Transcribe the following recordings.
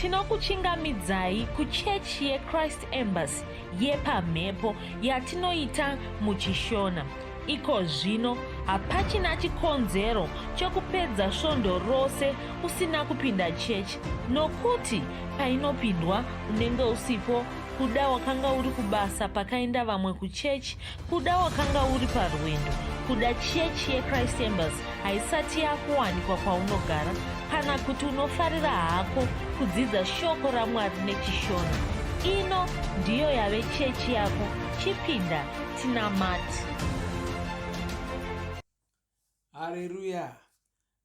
Tinokuchingamidzai kuchechi yeChrist Embassy yepamhepo yatinoita muChishona. Iko zvino hapachina chikonzero chokupedza svondo rose usina kupinda chechi nokuti painopindwa unenge usipo kuda wakanga uri kubasa pakaenda vamwe kuchechi Kuda wakanga uri parwendo kuda chechi yechrist embers haisati yakuwanikwa kwaunogara kana kuti unofarira hako kudzidza shoko ramwari nechishona ino ndiyo yave chechi yako chipinda tinamati hareruya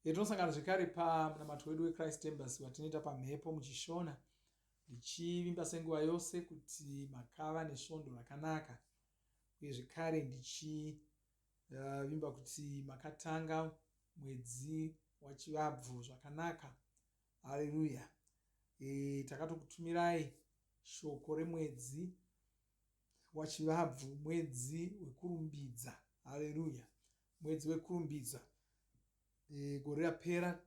yatinosangana zvekare pamunamato wedu wechrist embers watinoita pamhepo muchishona ndichivimba senguva yose kuti makava nesvondo rakanaka uye zvekare ndichivimba uh, kuti makatanga mwedzi wachivabvu zvakanaka haleluya e, takatokutumirai shoko remwedzi wachivabvu mwedzi wekurumbidza haleluya mwedzi wekurumbidza e, gore rapera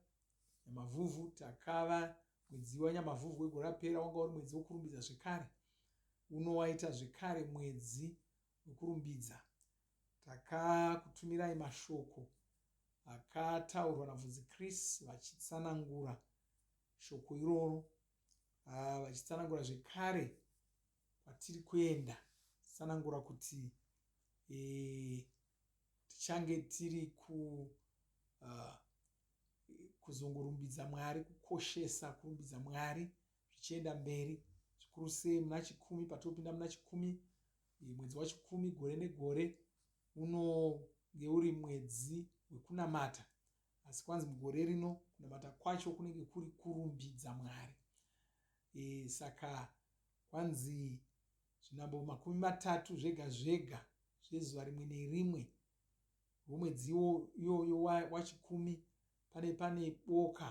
yamavhuvhu takava Mwedzi waNyamavhuvhu wegore rapera wanga uri mwedzi wokurumbidza zvekare. Uno waita zvekare mwedzi wekurumbidza. Takakutumirai mashoko akataurwa naVhunzi Chris vachitsanangura shoko iroro, ah, vachitsanangura zvekare kwatiri kuenda, tsanangura kuti eh, tichange tiri ku uh, kuzongorumbidza mwari kukoshesa kurumbidza mwari zvichienda mberi zvikuru sei muna chikumi patopinda muna chikumi eh, mwedzi wachikumi gore negore unonge uri mwedzi wekunamata asi kwanzi mugore rino kunamata kwacho kunenge kuri kurumbidza mwari e, saka kwanzi zvinambo makumi matatu zvega zvega zvezuva rimwe nerimwe rwomwedziwo iyoyo wachikumi pane pane boka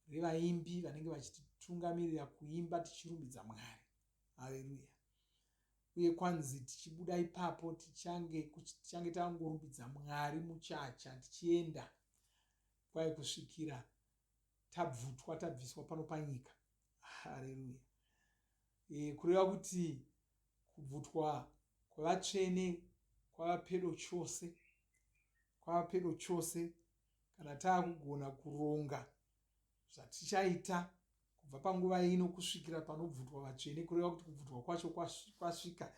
revaimbi vanenge vachititungamirira kuimba tichirumbidza mwari haleluya uye kwanzi tichibuda ipapo tichange tichange tangorumbidza mwari muchacha tichienda kwai kusvikira tabvutwa tabviswa pano panyika hareruya e, eh, kureva kuti kubvutwa kwevatsvene kwava pedo chose kwava pedo chose kana taakugona kuronga zvatichaita kubva panguva ino kusvikira panobvutwa vatsvene kureva kuti kubvutwa kwacho kwasvika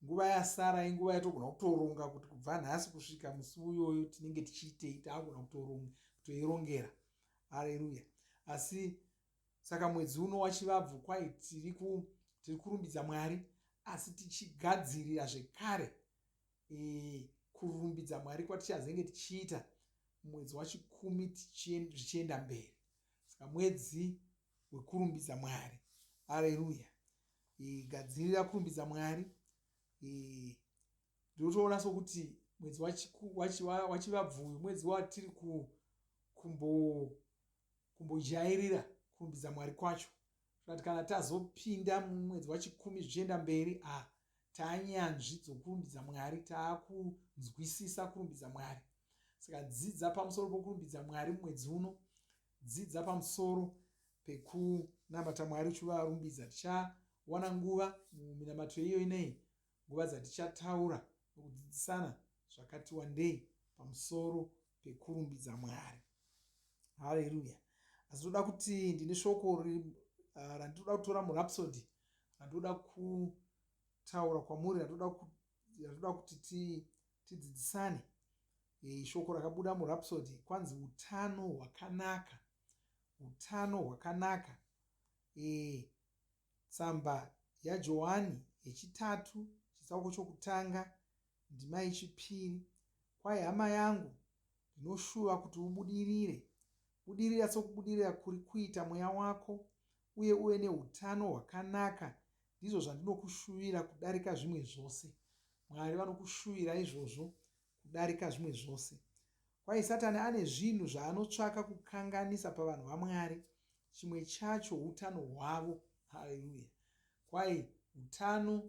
nguva yasara inguva yatogona kutoronga kuti kubva nhasi kusvika musi uyoyo tinenge tichiitei taagona kutoirongera areruya asi saka mwedzi uno wachivabvu kwai tiri tiri kurumbidza mwari asi tichigadzirira zvekare e, kurumbidza mwari kwatichazenge tichiita mwedzi wachikumi zvichienda mberi saka mwedzi wekurumbidza mwari areruya gadzirira kurumbidza mwari ndinotoona sokuti mwedzi wachivabvuyu mwedzi watiri kumbojairira kurumbidza mwari kwacho zvati kana tazopinda mumwedzi wachikumi zvichienda mberi a ah, tanyanzvi dzokurumbidza mwari taakunzwisisa kurumbidza mwari saka dzidza pamusoro pokurumbidza mwari mumwedzi uno Dzidza pamusoro pekunamata Mwari uchivarumbidza. Tichawana nguva muminamatiro iyoyi nei nguva dzatichataura nokudzidzisana zvakati wandei pamusoro pekurumbidza Mwari. Haleluya! Asi toda kuti ndine shoko ah, randinoda kutora murapsodi randinoda kutaura kwamuri randinoda kuti tidzidzisane Hey, shoko rakabuda murapsody kwanzi utano hwakanaka utano hwakanaka hey, tsamba yajohani yechitatu chitsauko chokutanga ndima yechipiri kwai hama yangu ndinoshuva kuti ubudirire budirira sokubudirira kuri kuita mweya wako uye uve neutano hwakanaka ndizvo zvandinokushuvira kudarika zvimwe zvose mwari vanokushuvira izvozvo kudarika zvimwe zvose. Kwahi Satani ane zvinhu zvaanotsvaka kukanganisa pavanhu vaMwari. Chimwe chacho utano hwavo. Haleluya! Kwahi utano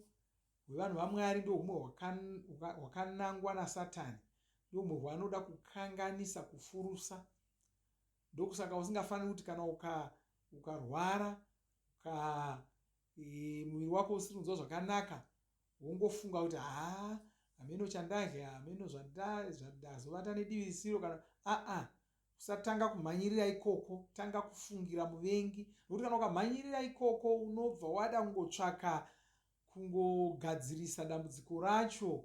hwevanhu vaMwari ndo humwe hwakanangwa naSatani. Ndo humwe hwaanoda kukanganisa, kufurusa. Ndokusaka usingafaniri kuti kana ukarwara uka, uka e, muviri wako usiri kunzwa zvakanaka wongofunga kuti haa hameno chandadya hameno zvandazovata nedivi risiro kana aa usatanga kumhanyirira ikoko tanga kufungira muvengi nokuti kana ukamhanyirira ikoko unobva wada kungotsvaka kungogadzirisa dambudziko racho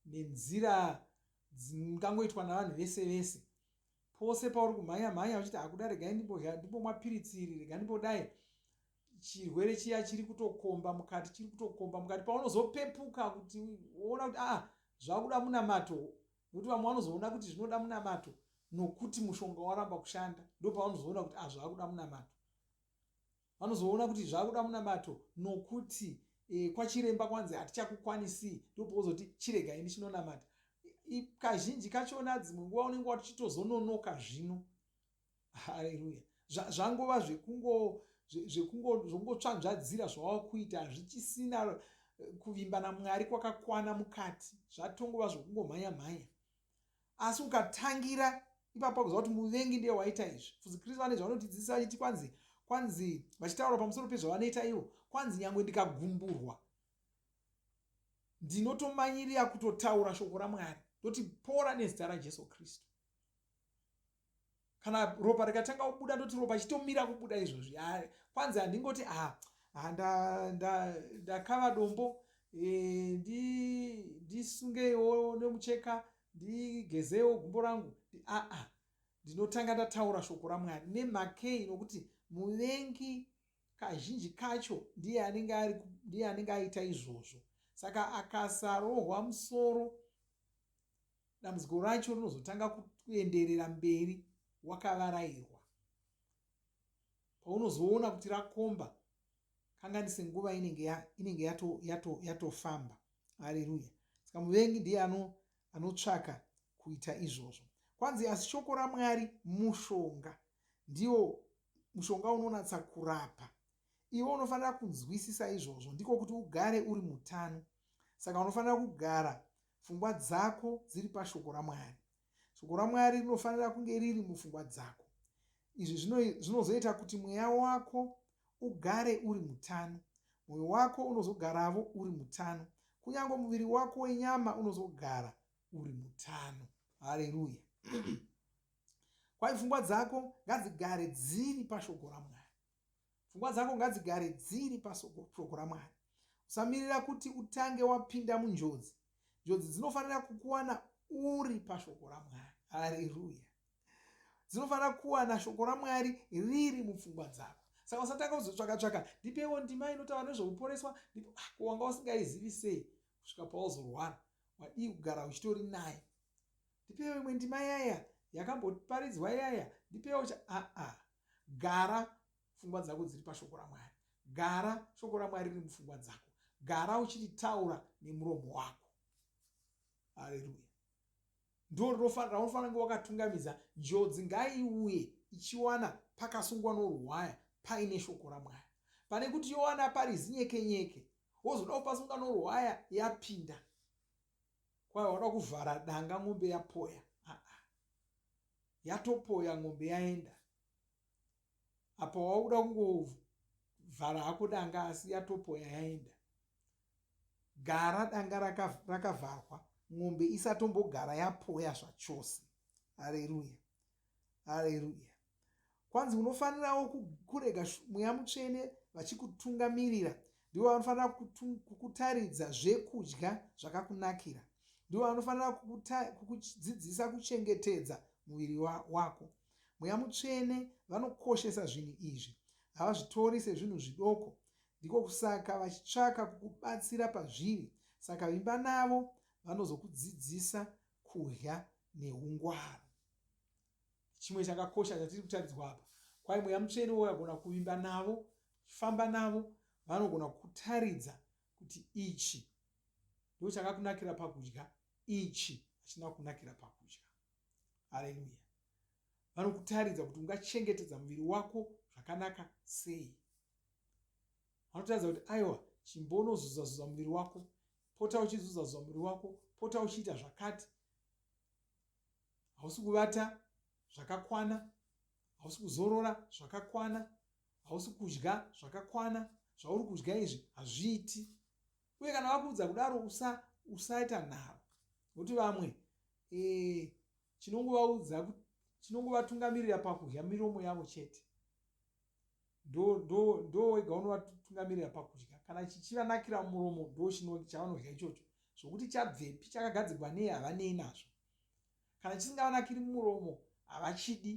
nenzira dzingangoitwa navanhu vese vese pose pauri kumhanya mhanya uchiti hakuda regai ndimbomwa piritsi iri rega ndimbodai chirwere chiya chiri kutokomba mukati chiri kutokomba mukati paunozopepuka kuti woona kuti aa ah, zvakuda munamato nokuti vamwe vanozoona kuti zvinoda munamato nokuti mushonga waramba kushanda ndo pavanozoona kuti ah zvakuda munamato vanozoona kuti zvakuda munamato nokuti e, kwachiremba kwanzi hatichakukwanisi ndo pauzoti chirega ini chinonamata kazhinji kachona dzimwe nguva unenge watochitozononoka zvino haleluya zvangova zvekungotsvanzvadzira zvawava kuita hazvichisina eh, kuvimba namwari kwakakwana mukati zvatongova zvokungomhanya mhanya asi ukatangira ipapo pakuziva kuti muvengi ndiye waita izvi fuzi kristu vane zvavanotidzidzisa vachiti kwanzi kwanzi vachitaura pamusoro pezvavanoita ivo kwanzi nyange ndikagumburwa ndinotomanyirira kutotaura shoko ramwari ndoti pora nezita rajesu kristu kana ropa rikatanga kubuda ndoti ropa chitomira kubuda izvozvi kwanzi handingoti a ndakava dombo e, ndisungewo nemucheka ndigezewo gumbo rangu aa ndinotanga ndataura shoko ramwari nemakei nokuti muvengi kazhinji kacho ndiye anenge aita izvozvo saka akasarohwa musoro dambudziko racho rinozotanga kuenderera mberi wakavarairwa paunozoona kuti rakomba kanganise nguva inenge ya, inenge yato yato yatofamba haleluya saka muvengi ndiye ano anotsvaka kuita izvozvo kwanzi asi shoko ramwari mushonga ndiwo mushonga unonatsa kurapa iwe unofanira kunzwisisa izvozvo ndiko kuti ugare uri mutano saka unofanira kugara Pfungwa dzako dziri paShoko raMwari. Shoko raMwari rinofanira kunge riri mupfungwa dzako. Izvi zvinozoita kuti mweya wako ugare uri mutano. Mwoyo wako unozogaravo uri mutano. Kunyange muviri wako wenyama unozogara uri mutano. Hareruya. Kwai pfungwa dzako ngadzigare dziri paShoko raMwari. Pfungwa dzako ngadzigare dziri pashoko raMwari. Usamirira kuti utange wapinda munjodzi. Njodzi dzinofanira kukuwana uri pashoko raMwari. Haleruya! Dzinofanira kuwana shoko raMwari riri mupfungwa dzako. Saka usatanga kuzotsvaka tsvaka, ndipewo ndima inotaura nezvekuporeswa, ndipo ah, ko wanga usingaizivi sei kusvika pauzorwara? Wadii kugara uchitori naye? Ndipewo imwe ndima yaya yakamboparidzwa yaya, ndipewo cha aa ah, ah. gara pfungwa dzako dziri pashoko ramwari gara shoko ramwari riri mupfungwa dzako gara uchiritaura nemuromo wako haleluya ndo rinofanira unofanira kunge wakatungamidza njodzi ngaiuye ichiwana pakasungwa norwaya paine shoko ramwari pane kuti yowana pari zinyekenyeke wozoda kupasunga norwaya yapinda kwai wada kuvhara danga mombe yapoya aa yatopoya mombe yaenda apa wauda kungovhara hako danga asi yatopoya yaenda gara danga rakavharwa mombe isatombogara yapoya zvachose hareruya Haleruya. Kwanzi unofanirawo kurega mweya mutsvene vachikutungamirira. Ndivo vanofanira kukutaridza zvekudya zvakakunakira. Ndivo vanofanira kukudzidzisa kuchengetedza muviri wako. Mweya mutsvene vanokoshesa zvinhu izvi. Havazvitori sezvinhu zvidoko. Ndiko kusaka vachitsvaka kukubatsira pazviri. Saka vimba navo vanozokudzidzisa kudya neungwaru. Chimwe chakakosha chatiri kutaridzwa apa, kwai mweya mutsvene wagona kuvimba navo, chifamba navo, vanogona kutaridza kuti ichi ndo chakakunakira pakudya ichi hachina kunakira pakudya aleluya vanokutaridza kuti ungachengetedza muviri wako zvakanaka sei vanotaridza kuti aiwa chimbonozuzazuza muviri wako pota uchizuzazuza muviri wako pota uchiita zvakati hausi kuvata zvakakwana hausi kuzorora zvakakwana hausi kudya zvakakwana zvauri kudya izvi hazviiti uye kana vakuudza kudaro usa usaita nharo nokuti vamwe eh, chinongovaudza chinongovatungamirira pakudya miromo yavo chete ndo wega unovatungamirira pakudya kana chichivanakira muromo ndo chavanodya ichocho zvokuti chabvepi chakagadzirwa nei havanei nazvo kana chisingavanakiri muromo havachidi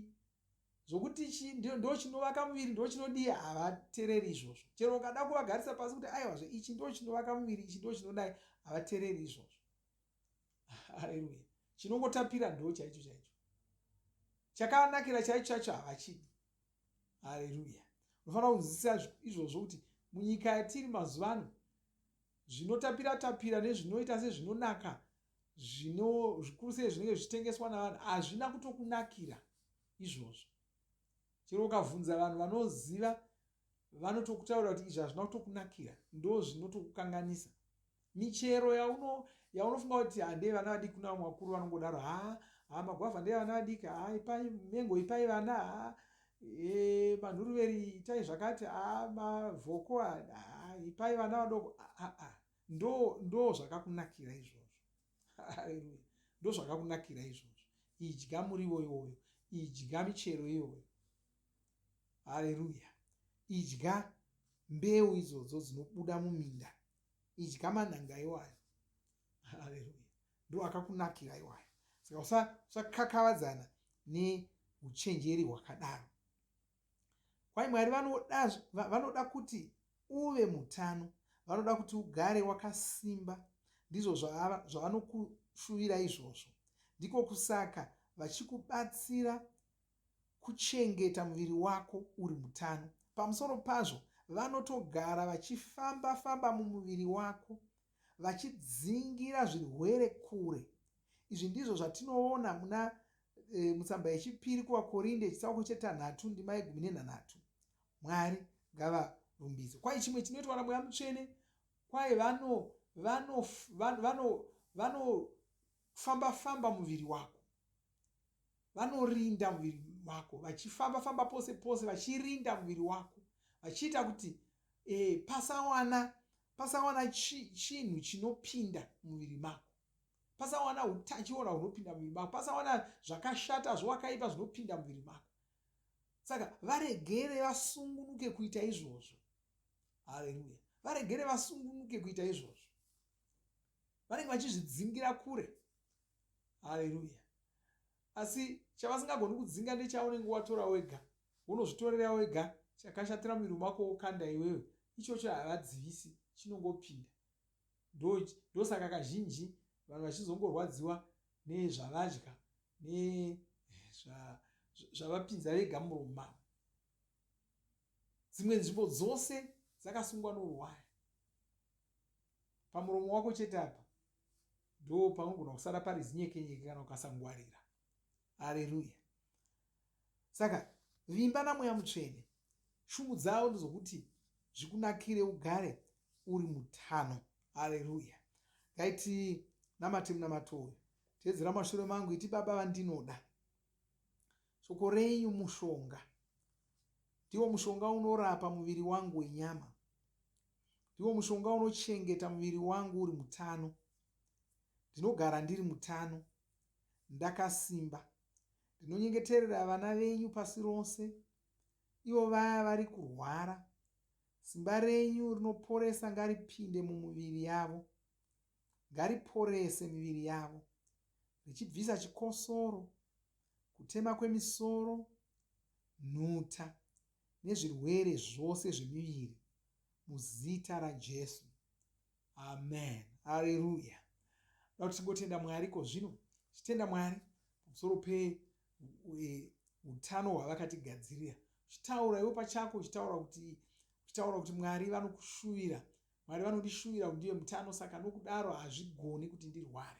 zvokuti ndo chinovaka muviri ndo chinodii havatereri izvozvo chero ukada kuvagarisa pasi kuti aiwazve ichi ndo chinovaka muviri ichi ndo chinodai havatereri izvozvo haleluya chinongotapira ndo chaicho chaicho chakavanakira chaicho chacho havachidi hareruya unofanira kunzwisisa izvozvo kuti munyika yatiri mazuva ano zvinotapira tapira nezvinoita sezvinonaka zvino zvikuru sei zvinenge zvichitengeswa navanhu hazvina kutokunakira izvozvo chero ukabvunza vanhu vanoziva vanotokutaura kuti izvi hazvina kutokunakira ndo zvinotokukanganisa michero yauno yaunofunga kuti handei vana vadiki kuna vamwe vakuru vanongodaro ha ha magwavha ndeye vana vadiki ha ipai mengo ipai vana ha e, manhuruveri itai zvakati ha mavhoko ha ipai vana vadoko aa ndo ndo zvakakunakira izvozvo haleluya ndo zvakakunakira izvozvo idya murivo iwoyo idya michero iyoyo haleluya idya mbeu idzodzo dzinobuda muminda idya manhanga iwayo haleluya ndo akakunakira iwayo saka usakakavadzana neuchenjeri hwakadaro kwai mwari vanoda kuti uve mutano vanoda kuti ugare wakasimba ndizvo zvavanokushuvira izvozvo ndiko kusaka vachikubatsira kuchengeta muviri wako uri mutano. Pamusoro pazvo, vanotogara vachifamba-famba mumuviri wako vachidzingira zvirwere kure. Izvi ndizvo zvatinoona muna e, mutsamba yechipiri kuvakorinde chitsauko chetanhatu ndima yegumi nenhanhatu. Mwari ngavarumbidzwe. Kwai chimwe chinoitwa namweya mutsvene kwai vano vanofamba-famba muviri wako vanorinda muviri wako vachifamba famba pose pose vachirinda muviri wako vachiita kuti e, pasawana pasawana chi, chinhu chinopinda muviri mako pasawana utachiona hunopinda muviri mako pasawana zvakashata zvowakaipa zvinopinda muviri mako saka varegere vasungunuke kuita izvozvo haleluya varegere vasungunuke kuita izvozvo vanenge vachizvidzingira kure haleluya asi chavasingagoni kudzinga ndechaunenge watora wega unozvitorera wega chakashatira muviri wako wokanda iwewe ichocho havadzivisi chinongopinda ndosaka kazhinji vanhu vachizongorwadziwa nezvavadya nezvavapinza vega murumu mavo dzimwe nzvimbo dzose dzakasungwa noruwaya pamuromo wako chete apa ndo panogona kusara pari zinyekenyeke kana ukasangwarira aleluya saka vimba namweya mutsvene shumu dzavo ndizvokuti zvikunakire ugare uri mutano aleluya ngaiti namate munamato uyu teedzera mashure mangu iti baba vandinoda shoko renyu mushonga ndiwo mushonga unorapa muviri wangu wenyama Ndiwo mushonga unochengeta muviri wangu uri mutano. Ndinogara ndiri mutano, ndakasimba. Ndinonyengeterera vana venyu pasi rose, ivo vaya vari kurwara. Simba renyu rinoporesa ngaripinde mumuviri yavo. Ngariporese miviri yavo, richibvisa chikosoro, kutema kwemisoro, nhuta. nezvirwere zvose zvemiviri muzita raJesu. Amen. Haleluya. Ndoda kuti tingotenda Mwari ko zvino tichitenda Mwari pamusoro peutano hwavakatigadzirira. Uchitaura iwe pachako uchitaura kuti uchitaura kuti Mwari vanokushuvira. Mwari vanondishuvira kuti ndive mutano saka nokudaro hazvigoni kuti ndirware.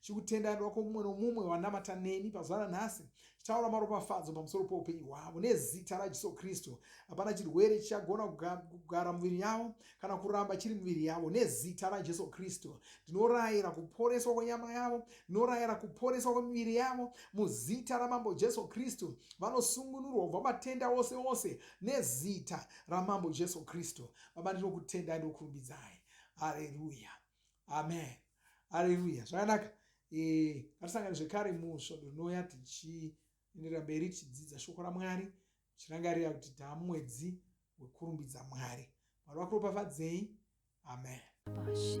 chikutendanirwa kwomumwe nomumwe wanamata neni pazuva ranhasi chitaura maropafadzo pamusoro poupenyu hwavo nezita rajesu kristu hapana chirwere chichagona kugara muviri yavo kana kuramba chiri muviri yavo nezita rajesu kristu ndinorayira kuporeswa kwenyama yavo ndinorayira kuporeswa kwemiviri yavo muzita ramambo jesu kristu vanosungunurwa kubva matenda ose ose nezita ramambo jesu kristu baba ndinokutendai ndokurumbidzai hareruya amen haleluya zvakanaka eh, ngatisangane zvekare musvondo rinouya tichienderera mberi tichidzidza shoko ramwari tichirangarira kuti taamwedzi wekurumbidza mwari mwari vakuropafadzei amen Bashi,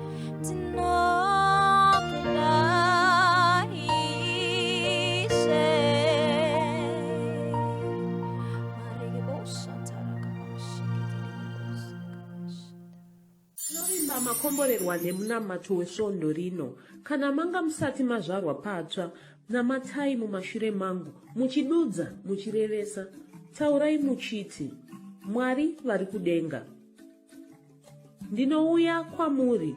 makomborerwa nemunamato wesvondo rino kana manga musati mazvarwa patsva namatai mumashure mangu muchidudza muchirevesa taurai muchiti mwari vari kudenga ndinouya kwamuri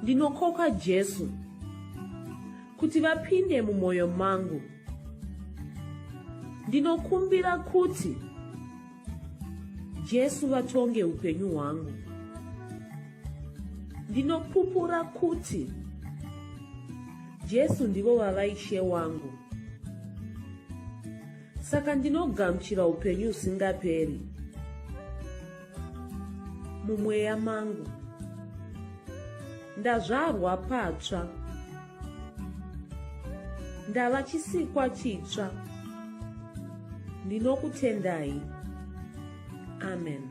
ndinokoka jesu kuti vapinde mumwoyo mangu ndinokumbira kuti jesu vatonge upenyu hwangu ndinopupura kuti jesu ndivo vava ishe wangu saka ndinogamuchira upenyu husingaperi mumweya mangu ndazvarwa patsva ndava chisikwa chitsva ndinokutendai amen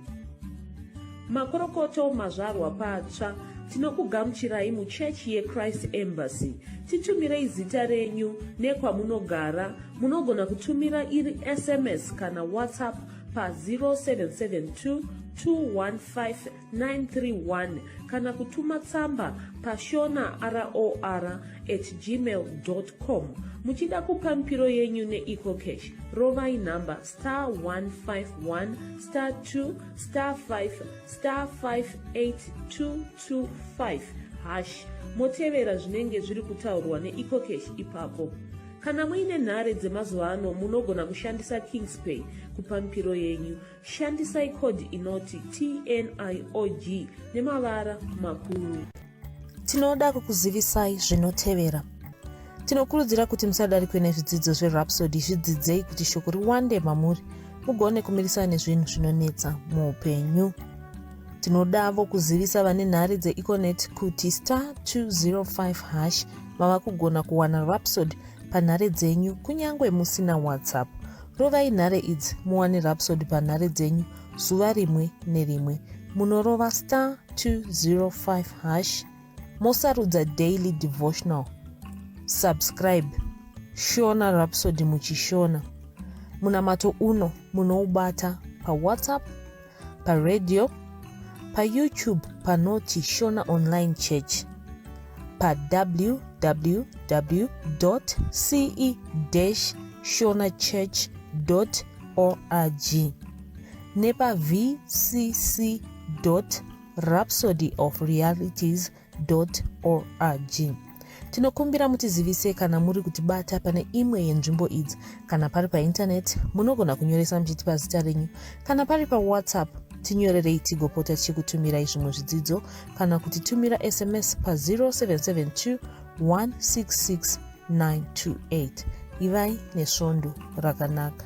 makorokoto mazvarwa patsva tinokugamuchirai muchechi yechrist embassy titumirei zita renyu nekwamunogara munogona kutumira iri sms kana whatsapp pa 0772 215 931 kana kutuma tsamba pashona roar at gmail com muchida kupa mipiro yenyu neecocash rovai nhamba star 151 star 2 star 5 star 58225 hash motevera zvinenge zviri kutaurwa neecocash ipapo kana muine nhare dzemazuva ano munogona kushandisa kingspay kupa mipiro yenyu Shandisai code inoti TNIOG nemavara makuru. Tinoda kukuzivisai zvinotevera. Tinokurudzira kuti musadarikwe nezvidzidzo zveRhapsody zvidzidzei kuti shoko riwande mamuri mugone kumirisana nezvinhu zvinonetsa muupenyu. Tinodavo kuzivisa vane nhare dzeEconet kuti star 205 hash mava kugona kuwana Rhapsody panhare dzenyu kunyange musina WhatsApp. Rovai nhare idzi muwane Rhapsody panhare dzenyu zuva rimwe nerimwe. Munorova star 205 hash mosarudza daily devotional. Subscribe Shona Rhapsody muchishona. Munamato uno munoubata paWhatsApp paradio payoutube panoti shona online church pawww ce shona church org nepavcc rhapsody of realities org tinokumbira mutizivise kana muri kutibata pane imwe yenzvimbo idzi kana pari paintaneti munogona kunyoresa muchiti pazita renyu kana pari pawhatsapp tinyorerei tigopota tichikutumirai zvimwe zvidzidzo kana kuti tumira sms pa0772 166 928 ivai nesvondo rakanaka